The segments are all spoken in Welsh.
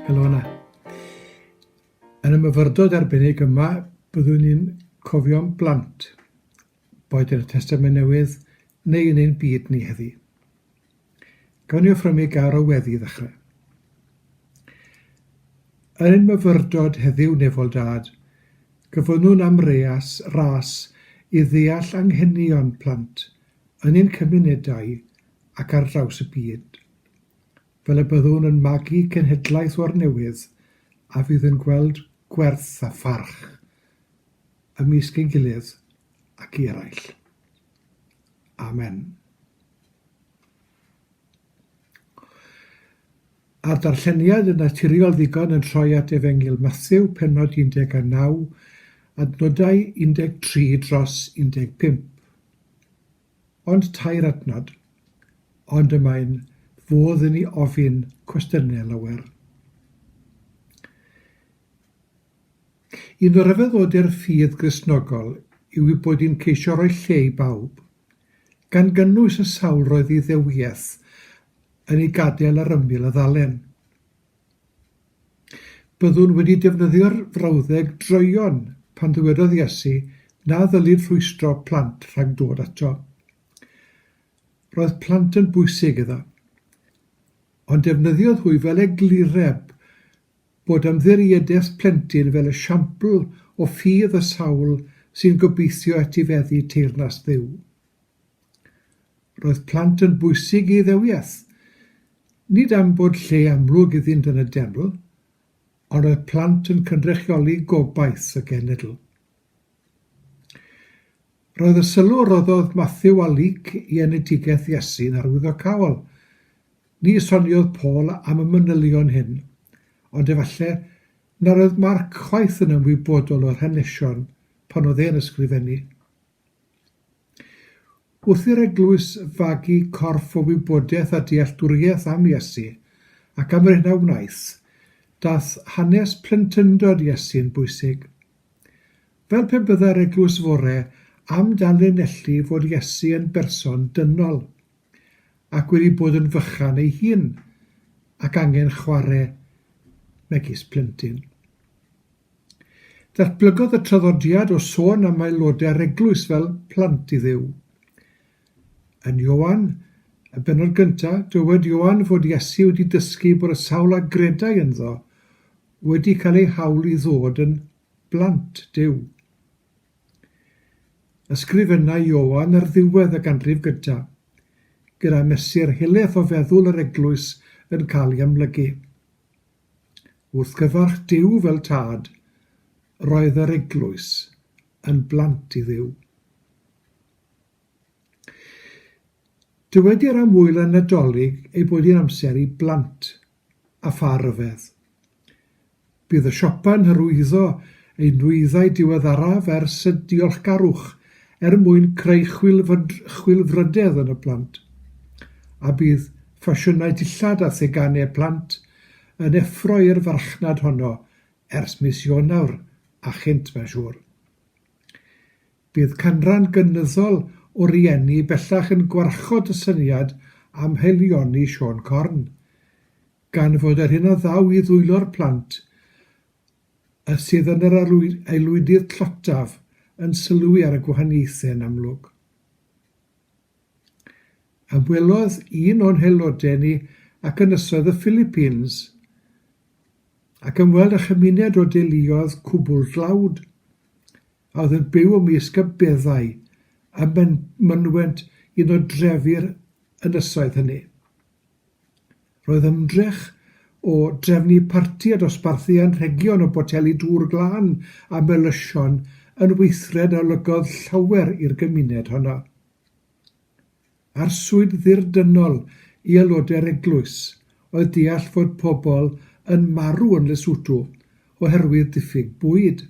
Helo yna. Yn y myfyrdod arbennig yma, byddwn ni'n cofio'n blant, boed yn y Testament Newydd neu yn ein byd ni heddi. Gawn ni offrymu gar o weddi i ddechrau. Yn myfyrdod heddiw nefol dad, gyfynnwn am reas, ras i ddeall anghenion plant yn ein cymunedau ac ar draws y byd. Fel y byddwn yn magu cenhedlaeth o'r newydd a fydd yn gweld gwerth a pharch ymysg ei gilydd ac i eraill. Amen. A'r darlleniad yn naturiol ddigon yn troi at Efengyl Matthew, penod 19, adnodau 13 dros 15. Ond tair adnod, ond y mae'n fodd i ni ofyn cwestiynau lawer. Un o ryfeddodi'r ffydd Gristnogol yw ei bod hi'n ceisio rhoi lle i bawb, gan gynnwys y sawl roedd Iddewiaeth yn ei gadael ar ymyl y ddalen. Byddwn wedi defnyddio'r frawddeg droeon pan ddywedodd Iesu na ddylid rhwystro plant rhag dod ato. Roedd plant yn bwysig iddo. Ond defnyddiodd hwy fel eglureb bod ymddiriedes plentyn fel esiampl o ffydd y sawl sy'n gobeithio etifeddu teyrnas Dduw. Roedd plant yn bwysig i ddewiaeth, nid am bod lle amlwg iddynt yn y deml, ond roedd plant yn cynrychioli gobaith y genedl. Roedd y sylw a roddodd Mathew a Luc i enedigaeth Iesu'n arwyddocaol. Ni soniodd Paul am y manylion hyn, ond efallai nad oedd Mark chwaith yn ymwybodol o'r hanesion pan oedd e'n ysgrifennu. Wrth i'r eglwys fagu corff o wybodaeth a dealltwriaeth am Iesu, ac am yr hyn a wnaeth, daeth hanes plentyndod Iesu'n bwysig. Fel pe byddai'r eglwys fore am danlinellu fod Iesu yn berson dynol, ac wedi bod yn fychan ei hun, ac angen chware megis plentyn. Datblygodd y traddodiad o sôn am aelodau'r eglwys fel plant i Dduw. Yn Ioan, y bennod gyntaf, dywed Ioan fod Iesu wedi dysgu bod y sawl a gredai ynddo Wedi cael eu hawl i ddod yn blant Duw. Ysgrifenna Ioan ar ddiwedd y ganrif gyntaf, gyda mesur helaeth o feddwl yr eglwys yn cael ei amlygu. Wrth gyfarch Duw fel Tad, roedd yr eglwys yn blant i Dduw. Dywedir am wyl y Nadolig ei bod hi'n amser i blant a pha ryfedd. Bydd y siopa'n hyrwyddo eu nwyddau diweddaraf ers y diolchgarwch er mwyn creu chwilfrydedd yn y plant, a bydd ffasiynau dillad a theganau plant yn effro i'r farchnad honno ers mis Ionawr a chynt mae'n siŵr. Bydd canran gynyddol o rieni bellach yn gwarchod y syniad am haelioni Siôn Corn, gan fod yr hyn a ddaw i ddwylo'r plant sydd yn yr aelwydydd tlotaf yn sylwi ar y gwahaniaethau'n amlwg. Ymwelodd un o'n haelodau ni ac Ynysoedd y Philippines ac ymweld â chymuned o deuluoedd cwbl dlawd a oedd yn byw ymysg y beddau a mynwent un o drefi'r ynysoedd hynny. Roedd ymdrech o drefnu parti a dosbarthu anrhegion o boteli dŵr glân a melysion yn weithred a olygodd llawer i'r gymuned honno. Arswyd ddirdynnol i aelodau'r eglwys oedd deall fod pobl yn marw yn Lesotho oherwydd diffyg bwyd.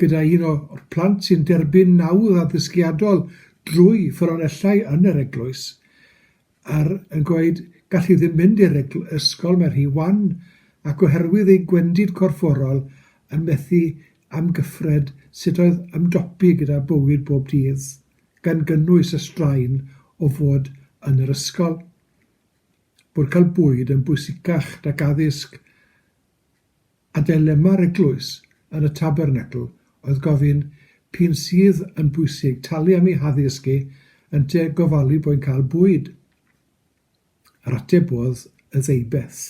Gyda un o'r plant sy'n derbyn nawdd addysgiadol drwy ffynonellau yn yr eglwys, a'r yn gweud gall hi ddim mynd i'r ysgol, mae rhy wan, ac oherwydd ei gwendid corfforol yn methu amgyffred sut oedd ymdopi gyda bywyd bob dydd. gan gynnwys y straen o fod yn yr ysgol, bod cael bwyd yn bwysicach nag addysg, a dilema'r eglwys yn y Tabernacl oedd gofyn p'un sydd yn bwysig, talu am ei haddysg e, ynte gofalu bo'n cael bwyd? Yr ateb oedd y ddeubeth.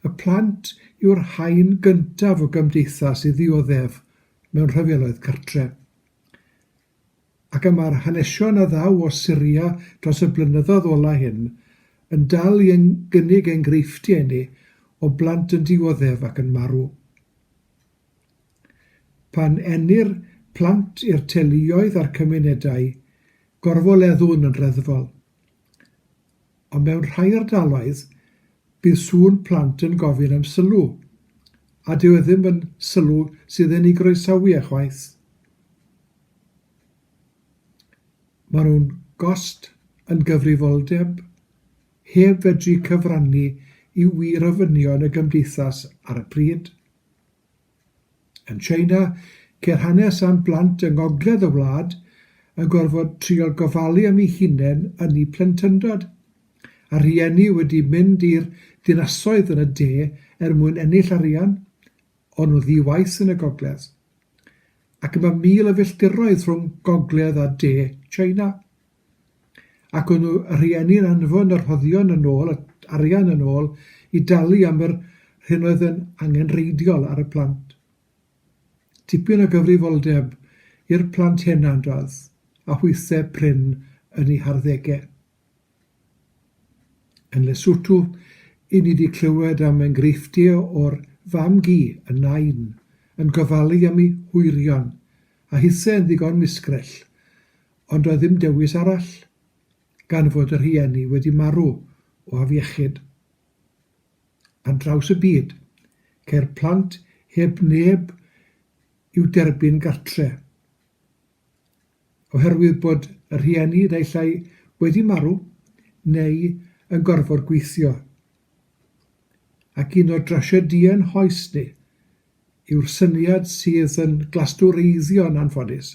Y plant yw'r haen gyntaf o gymdeithas i ddioddef mewn rhyfeloedd cartref. Ac y mae'r hanesion a ddaw o Syria dros y blynyddoedd ola hyn yn dal i gynnig enghreifftiau inni o blant yn dioddef ac yn marw. Pan ennir plant i'r teuluoedd a'r cymunedau, gorfoleddwn yn reddfol. Ond mewn rhai ardaloedd, bydd sŵn plant yn gofyn am sylw, a dyw e ddim yn sylw sydd yn ei groesawu e chwaith. Maen nhw'n gost yn gyfrifoldeb, heb fedru cyfrannu i wir ofynion y gymdeithas ar y pryd. Yn China, ceir hanes am blant yng ngogledd y wlad yn gorfod trio gofalu am eu hunain yn eu plentyndod, a rhieni wedi mynd i'r dinasoedd yn y de er mwyn ennill arian, ond nhw ddi-waith yn y gogledd. Ac mae mil o filltiroedd rhwng gogledd a de China. ac o'n rhieni'n anfon y rhoddion yn ôl, yr arian yn ôl, i dalu am yr hyn oedd yn angenrheidiol ar y plant. Tipyn o gyfrifoldeb i'r plant hena doedd, a hwythau prin yn eu harddegau. Yn Lesotho, i ni di clywed am enghreifftiau o'r fam-gu, y nain, yn gofalu am ei hwyrion, a hithau yn ddigon misgrell, Ond doedd ddim dewis arall, gan fod y rhieni wedi marw o afiechyd. Ar draws y byd, ceir plant heb neb i'w derbyn gartre'. Oherwydd bod y rhieni naill ai wedi marw neu yn gorfod gweithio. Ac un o drasiedïau ein hoes ni yw'r syniad sydd yn glastwreiddio yn anffodus,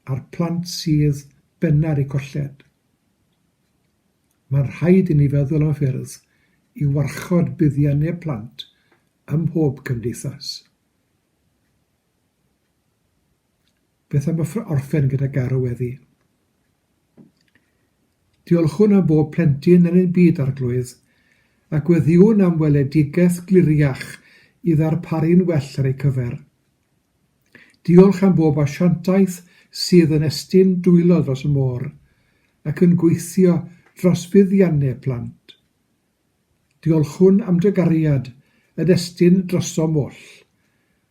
a'r plant sydd benna ar eu colled. Mae'n rhaid i ni feddwl am ffyrdd i warchod buddiannau plant ym mhob cymdeithas. Beth am y orffen gyda garw weddi? Diolchwn am bob plentyn yn ein byd Arglwydd, a gweddiwn am weledigaeth gliriach i ddarparu'n well ar eu cyfer. Diolch am bob asiantaeth sydd yn estyn dwylo dros y môr ac yn gweithio dros fuddiannau plant. Diolchwn am dy gariad yn estyn drosom oll,